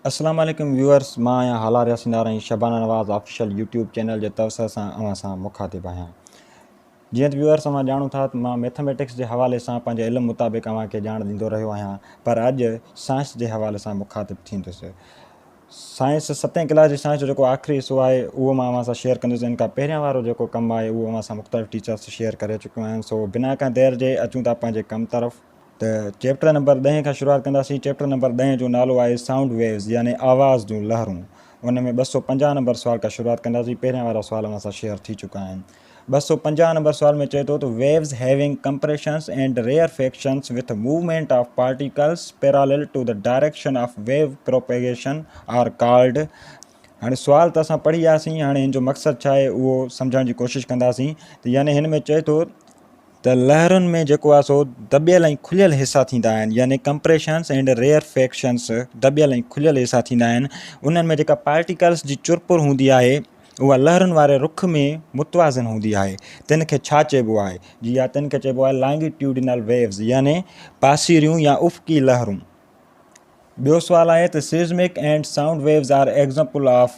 السلام عليڪم ويوئرز مان آهيان هالار ياسيندار ۽ Shabana Nawaz official YouTube channel جي توسعي سان اوهان سان مخاطب آهيان جيئن ته ويوئرز اوهان ڄاڻو ٿا ته مان ميٿميٽڪس جي حوالي سان پنهنجي علم مطابق اوهان کي ڄاڻ ڏيندو رهيو آهيان پر اڄ سائنس جي حوالي سان مخاطب ٿيندس سائنس ستين ڪلاس جي سائنس جو جيڪو آخري حصو آهي اهو مان اوهان سان شيئر ڪندس ان کان پهريان وارو جيڪو ڪم آهي اهو اوهان سان مختلف ٽيچرس شيئر ڪري چڪيون آهن سو بنا ڪنهن دير جي اچون ٿا پنهنجي ڪم طرف ته چيپٽر نمبر ڏهين کان شروعات ڪنداسين. چيپٽر نمبر ڏهين جو نالو آهي سائونڊ ويوز يعني آواز جون لهرون. ان ۾ ٻه سؤ پنجاهه نمبر سوال کان شروعات ڪنداسين. پهريان وارا سوال اوهان سان شيئر ٿي چڪا آهن. ٻه سؤ پنجاهه نمبر سوال ۾ چئي ٿو ته Waves having compressions and rarefactions with movement of particles parallel to the direction of wave propagation are called هاڻي سوال ته اسان پڙهي آياسين هاڻي هن جو مقصد ڇا آهي اهو سمجهڻ جي ڪوشش ڪنداسين ته يعني هن ۾ چئي ٿو ته لهرن ۾ جيڪو آهي سو دٻيل ۽ کليل حصا ٿيندا آهن يعني ڪمپريشنس ائنڊ ريئر فيڪشنس دٻيل ۽ کليل حصا ٿيندا آهن انهن ۾ جيڪا پارٽيڪلس جي چرپر هوندي آهي اها لهرن واري رخ ۾ متوازن هوندي آهي تن کي ڇا چئبو آهي جي ها تن کي چئبو آهي لانگيٽيوڊينل ويوز يعني پاسيريون يا افقي لهرون ٻيو سوال آهي ته seismic and sound waves are example of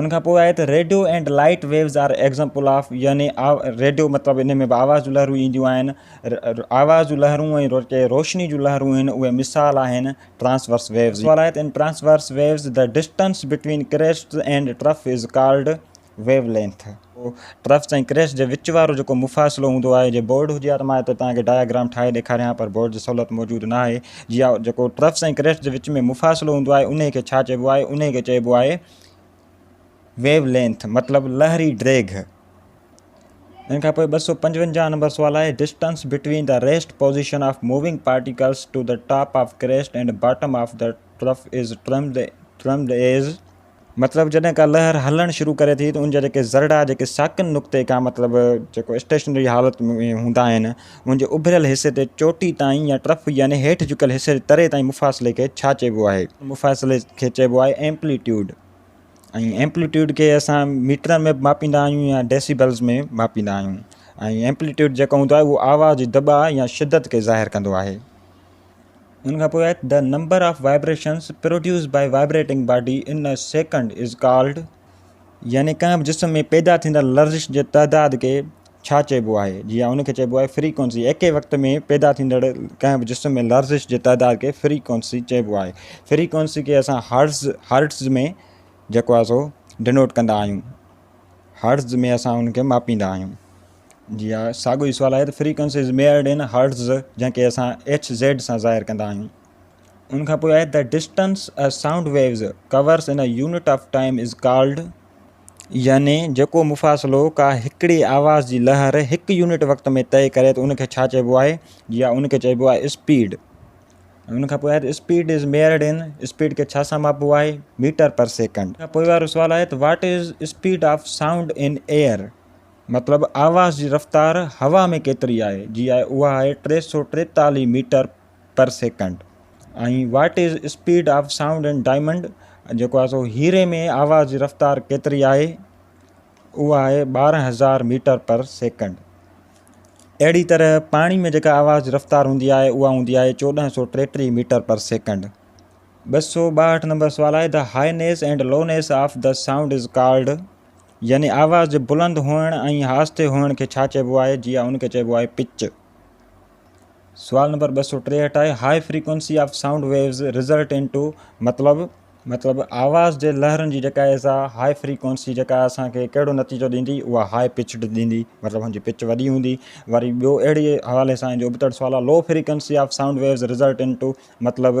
ان کان پوء آهي ته radio and light waves are example of يعني ريڊيو مطلب ان ۾ به آواز جون لهرون اينديون آهن آواز جون لهرون ۽ جيڪي روشني جون لهرون آهن اهي مثال آهن ٽرانسورس ويوز سوال آهي ته in transverse waves the distance between crests and trough is called wavelength. ھو ٽرفس ۽ ڪريس جي وچ وارو جيڪو مفاصلو ھوندو آھي جي بورڊ ھجي ھا ته مان ھتي توھان کي ڊائگرام ٺاھي ڏيکاريان ھا پر بورڊ جي سھولت موجود ناھي جي اھا جيڪو ٽرفس ۽ ڪريس جي وچ ۾ مفاصلو ھوندو آھي انھي کي ڇا چئبو آھي انھي کي چئبو آھي ويو لينٿ مطلب لھري ڊيگھه. ان کان پوء ٻه سؤ پنجونجاھ نمبر سوال آھي distance between the rest position of moving particles to the top of crest and bottom of the trough is termed as مطلب جڏهن ڪا لهر هلڻ شروع ڪري ٿي ته ان جا جيڪي ذرڙا جيڪي ساڪن نقطي کان مطلب جيڪو اسٽيشنري حالت ۾ هوندا آهن ان جي اڀريل حصي تي چوٽي تائين يا ٽرف يعني هيٺ جهڪيل حصي جي تري تائين مفاصلي کي ڇا چئبو آهي؟ مفاصلي کي چئبو آهي ايمپليٽيوڊ ۽ ايمپليٽيوڊ کي اسان ميٽرن ۾ به ماپيندا آهيون يا ڊيسيبلز ۾ ماپيندا آهيون ۽ ايمپليٽيوڊ جيڪو هوندو آهي اهو آواز جي دٻاء يا شدت کي ظاهر ڪندو آهي. ان کان پوء آهي The number of vibrations produced by vibrating body in a second is called يعني ڪنهن به جسم ۾ پيدا ٿيندڙ لرزش جي تعداد کي ڇا چئبو آهي جي ان کي چئبو آهي فريڪوئنسي ايڪي وقت ۾ پيدا ٿيندڙ ڪنهن به جسم ۾ لرزش جي تعداد کي فريڪوئنسي چئبو آهي فريڪوئنسي کي اسان هرٽز Hertz ۾ جيڪو آهي سو ڊنوٽ ڪندا آهيون هرٽز ۾ اسان ان کي ماپيندا آهيون جي ها ساڳيو ئي سوال آهي ته frequency is measured in hertz جنهن کي اسان ايڇ زيڊ سان ظاهر ڪندا آهيون ان کان پوء آهي ته distance a sound waves covers in unit of time is called يعني جيڪو مفاصلو ڪا هڪڙي آواز جي لهر هڪ يونٽ وقت ۾ طئي ڪري ته ان کي ڇا چئبو آهي جي ها ان کي چئبو آهي اسپيڊ ان کان پوء آهي ته speed is measured in speed کي ڇا سان ماپبو آهي ميٽر پر سيڪنڊ کان پوء وارو سوال آهي ته what is speed of sound in air مطلب آواز جي رفتار هوا ۾ ڪيتري آهي جي آهي اها آهي ٽي سؤ ٽيتاليهه metre per second ۽ what is speed of sound in diamond جيڪو آهي سو هيري ۾ آواز جي رفتار ڪيتري آهي اها آهي ٻارهن هزار ميٽر پر سيڪنڊ اهڙي طرح پاڻي ۾ جيڪا آواز جي رفتار هوندي آهي اها هوندي آهي چوڏهن سؤ ٽيٽيهه ميٽر پر سيڪنڈ ٻه سؤ ٻاهٺ نمبر سوال آهي the highness and lowness of the sound is called يعني آواز جي بلند هئڻ ۽ آهستي هئڻ کي ڇا چئبو آهي؟ جي آء ان کي چئبو آهي پچ. سوال نمبر ٻه سؤ ٽيهٺ آهي High Frequency of Sound Waves Result Into مطلب مطلب آواز جي لهرن جي جيڪا اهي سا هائي فريڪوئنسي جيڪا اسان کي ڪهڙو نتيجو ڏيندي اها هائي پچڊ ڏيندي مطلب هن جي پچ وڏي هوندي وري ٻيو اهڙي حوالي سان جو ابتڙ سوال آهي Low Frequency of Sound Waves Result Into مطلب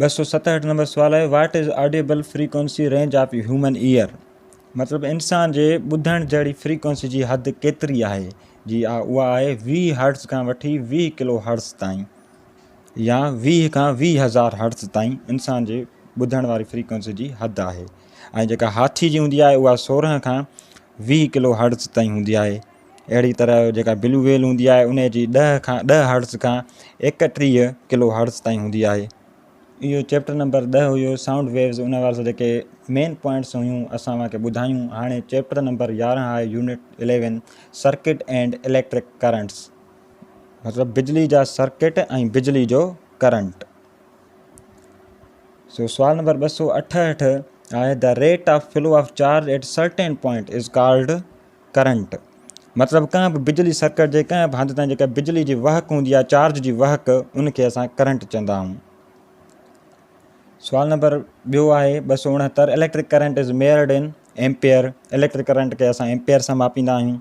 ٻه سؤ ستهٺ نمبر سوال آهي what is audible frequency range of human ear مطلب انسان جي ٻڌڻ جهڙي فريڪوئنسي جي حد ڪيتري آهي جي آ اها آهي ويهه هرٽز کان وٺي ويهه ڪلو هرٽز تائين يا ويهه کان ويهه هزار هرٽز تائين انسان جي ٻڌڻ واري فريڪوئنسي جي حد آهي ۽ جيڪا هاٿي جي هوندي آهي اها سورهن کان ويهه ڪلو هرٽز تائين هوندي آهي اهڙي طرح جيڪا بلو ويل هوندي آهي ان جي ڏهه کان ڏهه هرٽز کان ايڪٽيهه ڪلو هرٽز تائين هوندي آهي اهو چيپٽر نمبر ڏهه هيو سائونڊ ويوز ان وارا سڀ جيڪي مين پوائنٽس هيون اسان اوهان کي ٻڌايون هاڻي چيپٽر نمبر يارهن آهي unit eleven circuit and electric currents مطلب بجلي جا سرڪٽ ۽ بجلي جو ڪرنٽ سو سوال نمبر ٻه سو اٺهٺ آهي the rate of flow of charge at certain point is called current مطلب ڪنهن به بجلي سرڪٽ جي ڪنهن به هنڌ تائين جيڪا بجلي جي وهڪ هوندي آهي چارج جي وهڪ ان کي اسان ڪرنٽ چوندا آهيون. سوال نمبر ٻيو آهي ٻه سؤ اڻهتر electric current is measured in ampere electric current کي اسان ايمپيئر سان ماپيندا آهيون.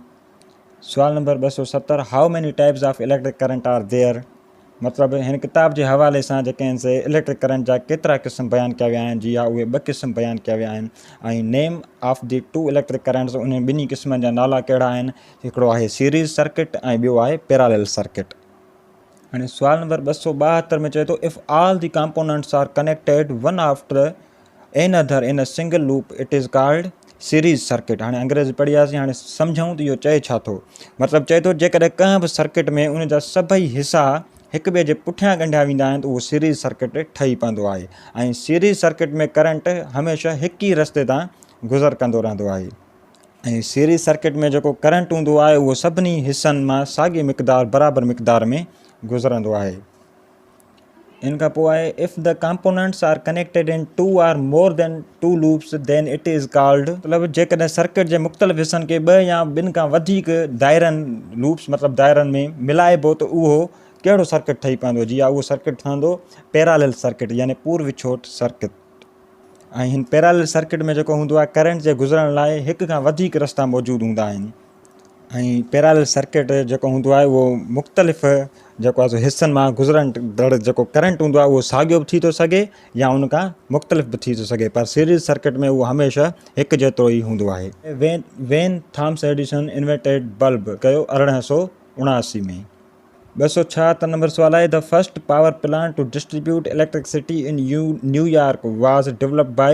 سوال نمبر ٻه سؤ ستر how many types of electric current are there مطلب هن ڪتاب جي حوالي سان جيڪي آهن سي اليڪٽرڪ ڪرنٽ جا ڪيترا قسم بيان ڪيا ويا آهن جي ها اهي ٻه قسم بيان ڪيا ويا آهن ۽ name of the two electric currents انهن ٻنهي قسمن جا نالا ڪهڙا آهن هڪڙو آهي سيريز سرڪٽ ۽ ٻيو آهي پيراليل سرڪٽ. هاڻي سوال نمبر ٻه سؤ ٻاهتر ۾ چئي ٿو if all the components are connected one after another in single loop it is called series circuit هاڻي انگريزي پڙهي آياسين هاڻي سمجهون ته اهو چئي ڇا ٿو مطلب چئي ٿو جيڪڏهن ڪنهن به سرڪٽ ۾ ان جا سڀئي حصا هڪ ٻئي جي پٺيان ڳنڍيا ويندا آهن ته اهو سيريز سرڪٽ ٺهي پوندو آهي ۽ سيريز سرڪٽ ۾ ڪرنٽ هميشه هڪ ئي رستي تان گذر ڪندو رهندو آهي ۽ سيريز سرڪٽ ۾ جيڪو ڪرنٽ هوندو آهي اهو سڀني حصن مان ساڳي مقدار برابر مقدار ۾ گذرندو آهي. ان کان پوء آهي If the components are connected in two or more than two loops then it is called مطلب جيڪڏهن سرڪٽ جي مختلف حصن کي ٻه يا ٻن کان وڌيڪ دائرن، Loops، مطلب دائرن ۾ ملائبو ته اهو ڪهڙو سرڪٽ ٺهي پوندو جي ها اهو سرڪٽ ٺهندو Parallel Circuit يعني پور وڇوٽ سرڪٽ ۽ هن Parallel Circuit ۾ جيڪو هوندو آهي ڪرنٽ جي گذرڻ لاء هڪ کان وڌيڪ رستا موجود هوندا آهن. ۽ پيرالل سرڪٽ جيڪو هوندو آهي اهو مختلف جيڪو آهي سو حصن مان گذرندڙ جيڪو ڪرنٽ هوندو آهي اهو ساڳيو به ٿي ٿو سگهي يا ان کان مختلف به ٿي ٿو سگهي پر سيريز سرڪٽ ۾ اهو هميشه هڪ جيترو ئي هوندو آهي. When When Thomas Edison invented bulb ڪيو ارڙهن سؤ اڻاسي ۾. ٻه سؤ ڇاهتر نمبر سوال آهي The first power plant to distribute electricity in New York was developed by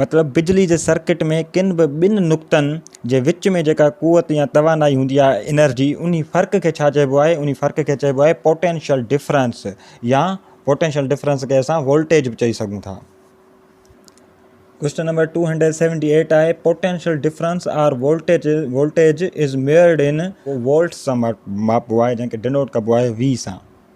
مطلب بجلي جي سرڪٽ ۾ ڪن به ٻن نقطن جي وچ ۾ جيڪا قوت يا توانائي هوندي آهي انرجي انهي فرق کي ڇا چئبو آهي انهي فرق کي چئبو آهي پوٽينشل ڊفرنس يا پوٽينشل ڊفرنس کي اسان وولٽيج به چئي سگهون ٿا. Question number two hundred seventy eight آهي potential difference or voltage voltage is measured in volts سان ماپبو آهي جنهن کي ڊنوٽ ڪبو آهي V سان.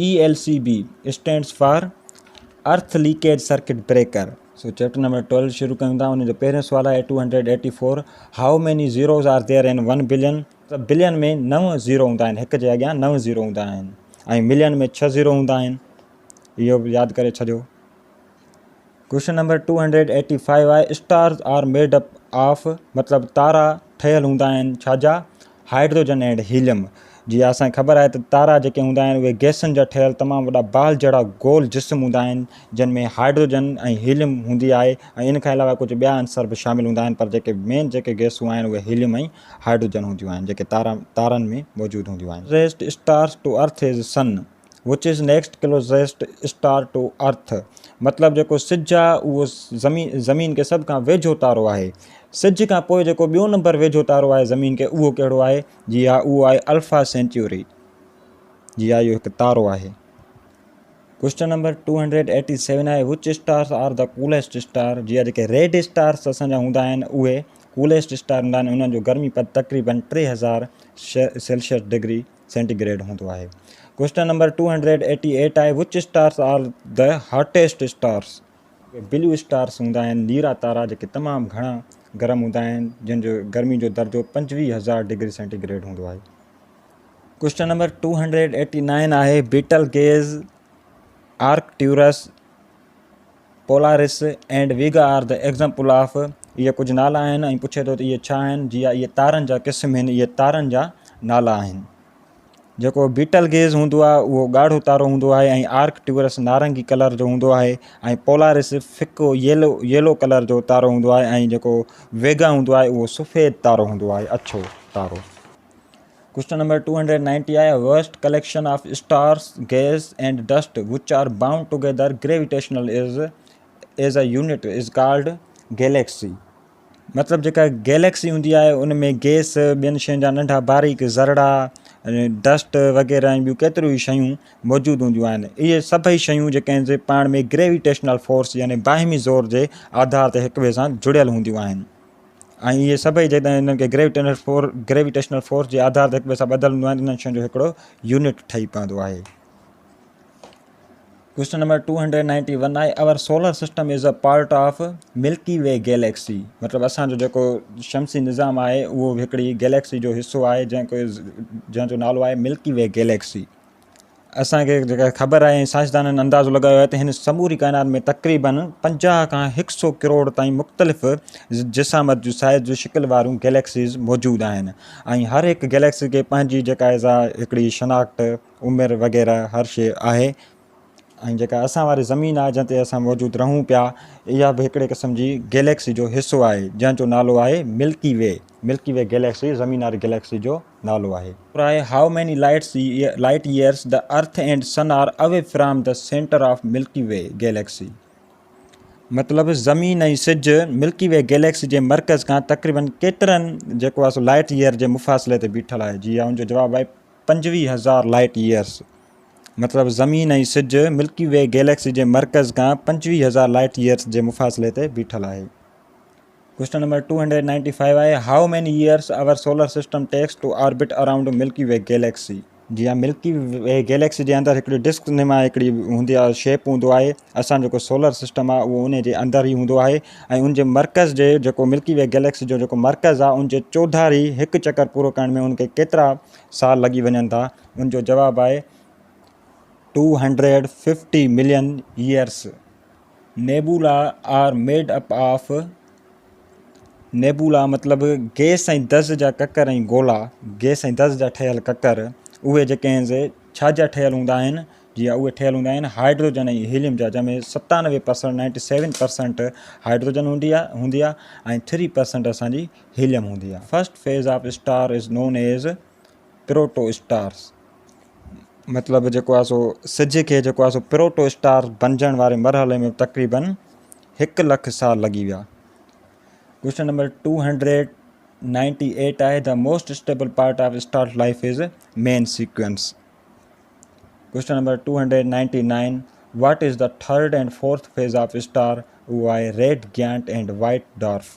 E L C B stands for earth leakage circuit breaker so chapter number twelve شروع ڪيون ٿا ان جو پهريون سوال آهي two hundred eighty four how many zeros are there in one billion ته بلين ۾ نو زيرو هوندا آهن هڪ جي اڳيان نو زيرو هوندا آهن ۽ ملين ۾ ڇهه زيرو هوندا آهن اهو به ياد ڪري ڇڏيو question number two hundred eighty five آهي stars are made up of مطلب تارا ٺهيل هوندا آهن ڇا جا هائيڊروجن اينڊ هيليم جي اسان کي خبر آهي ته تارا جيڪي هوندا آهن اهي گئسن جا ٺهيل تمام وڏا بال جهڙا گول جسم هوندا آهن جن ۾ هائيڊروجن ۽ هيليم هوندي آهي ۽ ان کان علاوه ڪجهه ٻيا عنصر به شامل هوندا آهن پر جيڪي مين جيڪي گئسون آهن اهي هيليم ۽ هائيڊروجن هونديون آهن جيڪي تارا تارن ۾ موجود هونديون آهن nearest stars to earth is sun Which is next closest star to earth؟ مطلب جيڪو سج آ اهو زمين زمين کي سڀ کان ويجهو تارو آهي. سج کان پوء جيڪو ٻيو نمبر ويجهو تارو آهي زمين کي اهو ڪهڙو آهي؟ جي ها اهو آهي الفا سينچوري. جي ها اهو هڪ تارو آهي. Question number two hundred eighty seven آهي which stars are the coolest star جي جيڪي ريڊ اسٽارس اسان جا هوندا آهن اهي ڪوليسٽ اسٽار هوندا آهن انهن جو گرمي پد تقريبن ٽي هزار سيلسيس ڊگري سينٽي گريڊ هوندو آهي. Question number two hundred eighty eight آهي which stars are the hottest stars. Blue stars هوندا آهن نيرا تارا جيڪي تمام گهڻا گرم هوندا آهن جن جو گرمي جو درجو پنجويهه هزار ڊگري سينٽي گريڊ هوندو آهي. Question number two hundred eighty nine آهي Betelgeuse Arcturus. Polaris and Vega are the example of, اهي ڪجهه نالا آهن ۽ پڇي ٿو ته اهي ڇا آهن؟ جي آء، اهي تارن جا قسم هن، اهي تارن جا نالا آهن. جيڪو بيٽل گيز هوندو آهي اهو ڳاڙهو تارو هوندو آهي ۽ آرڪ ٽيورس نارنگي ڪلر جو هوندو آهي ۽ پولارس ڦڪو ييلو، Yellow، ڪلر جو تارو هوندو آهي ۽ جيڪو ويگا هوندو آهي اهو سفيد تارو هوندو آهي، اڇو تارو. Question number two hundred ninety آهي vast collection of stars gas and dust which are bound together gravitational is as a unit is called galaxy مطلب جيڪا گيليڪسي هوندي آهي ان ۾ گيس ٻين شين جا ننڍا باريڪ ذرڙا ڊسٽ وغيره ۽ ٻيون ڪيتريون ئي شيون موجود هونديون آهن اهي سڀئي شيون جيڪي آهن سي پاڻ ۾ گريويٽيشنل فورس يعني باهمي زور جي آڌار تي هڪ ٻئي سان جڙيل هونديون آهن ۽ اهي سڀئي جيڪڏهن انهن کي گريويٽيشنل فورس جي آڌار تي هڪ ٻئي سان ٻڌل هونديون آهن ته انهن شين جو هڪڙو يونٽ ٺهي پوندو آهي. Question number two hundred ninety one آهي our solar system is a part of Milky Way galaxy مطلب اسان جو جيڪو شمسي نظام آهي اهو هڪڙي گيليڪسي جو حصو آهي جنهن جو نالو آهي ملڪي وي گيليڪسي اسانکي جيڪا خبر آهي سائنسدانن اندازو لڳايو آهي ته هن سموري ڪائنات ۾ تقريبن پنجاهه کان هڪ سو ڪروڙ تائين مختلف جسامت جون سائيز جون شڪل واريون گئليڪسيز موجود آهن ۽ هر هڪ گئليڪسي کي پنهنجي جيڪا آهي سا هڪڙي شناخت عمر وغيره هر شي آهي ۽ جيڪا اسان واري زمين آهي جنهن تي اسان موجود رهون پيا اها به هڪڙي قسم جي گئليڪسي جو حصو آهي جنهن جو نالو آهي Milky Way Milky Way galaxy زمين واري گئليڪسي جو نالو آهي. پراء how many lights light years the earth and sun are away from the centre of Milky Way galaxy مطلب زمين ۽ سج ملڪي وي گيليڪسي جي مرڪز کان تقريباً ڪيترن جيڪو آهي سو لائٽ ييئر جي مفاصلي تي بيٺل آهي جي ان جو جواب آهي پنجويهه هزار لائٽ ييئرس مطلب زمين ۽ سج ملڪي وي گيليڪسي جي مرڪز کان پنجويهه هزار لائٽ ييئرس جي مفاصلي تي بيٺل آهي. Question number two hundred ninety five آهي how many years our solar system takes to orbit around Milky Way galaxy جي ها ملڪي وي گيليڪسي جي اندر هڪڙي ڊسڪ نما هڪڙي هوندي آهي شيپ هوندو آهي اسان جيڪو سولر سسٽم آهي اهو ان جي اندر ئي هوندو آهي ۽ ان جي مرڪز جي جيڪو ملڪي وي گيليڪسي جو جيڪو مرڪز آهي ان جي چوڌاري هڪ چڪر پورو ڪرڻ ۾ ان کي ڪيترا سال لڳي وڃن ٿا ان جو جواب آهي two hundred fifty million years nebula are made up of nebula مطلب گئس ۽ دز جا ڪڪر ۽ گولا، گئس ۽ دز جا ٺهيل ڪڪر، اهي جيڪي آهن سي ڇا جا ٺهيل هوندا آهن؟ جي ها اهي ٺهيل هوندا آهن هائڊروجن ۽ هيليم جا جنهن ۾ ستانوي percent, ninety seven percent, hydrogen هوندي آهي هوندي آهي ۽ ٿري پرسنٽ اسان جي هيليم هوندي آهي. First phase of star is known as proto stars مطلب جيڪو آهي سو سج کي جيڪو آهي سو پروٽو اسٽار بنجڻ واري مرحلي ۾ تقريبن هڪ لک سال لڳي ويا question number two hundred ninety eight آهي the most stable part of star life is main sequence question number two hundred ninety nine what is the third and fourth phase of star اهو آهي red giant and white dwarf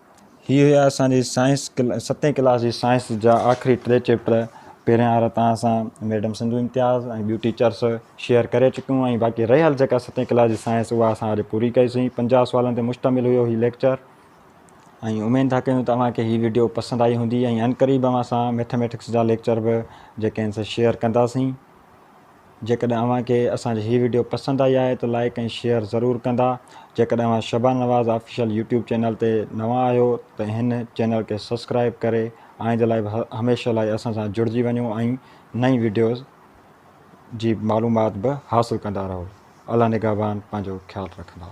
هي هيا اسان جي science ستين class جي science جا آخري ٽي چيپٽر پهريان وارا توهان سان ميڊم سنڌو امتياز ۽ ٻيون ٽيچرس شيئر ڪري چڪيون ۽ باقي رهيل جيڪا ستين ڪلاس جي سائنس اها اسان اڄ پوري ڪئي سين پنجاهه سوالن تي مشتمل هيو هي ليڪچر ۽ اميد ٿا ڪيون ته اوهان کي هي ويڊيو پسند آئي هوندي ۽ عنقريب اوهان سان ميٿميٽڪس جا ليڪچر به جيڪي آهن سي شيئر ڪنداسين جيڪڏهن اوهان کي اسان جي هي وڊيو پسند آئي آهي ته لائيڪ ۽ شيئر ضرور ڪندا جيڪڏهن اوهان Shabana Nawaz official YouTube channel تي نوان آهيو ته هن چينل کي سبسڪرائيب ڪري آئنده لاء به هميشه لاء اسان سان جڙجي وڃو ۽ نئين وڊيوز جي معلومات به حاصل ڪندا رهو الله نگهبان پنهنجو خيال رکندا.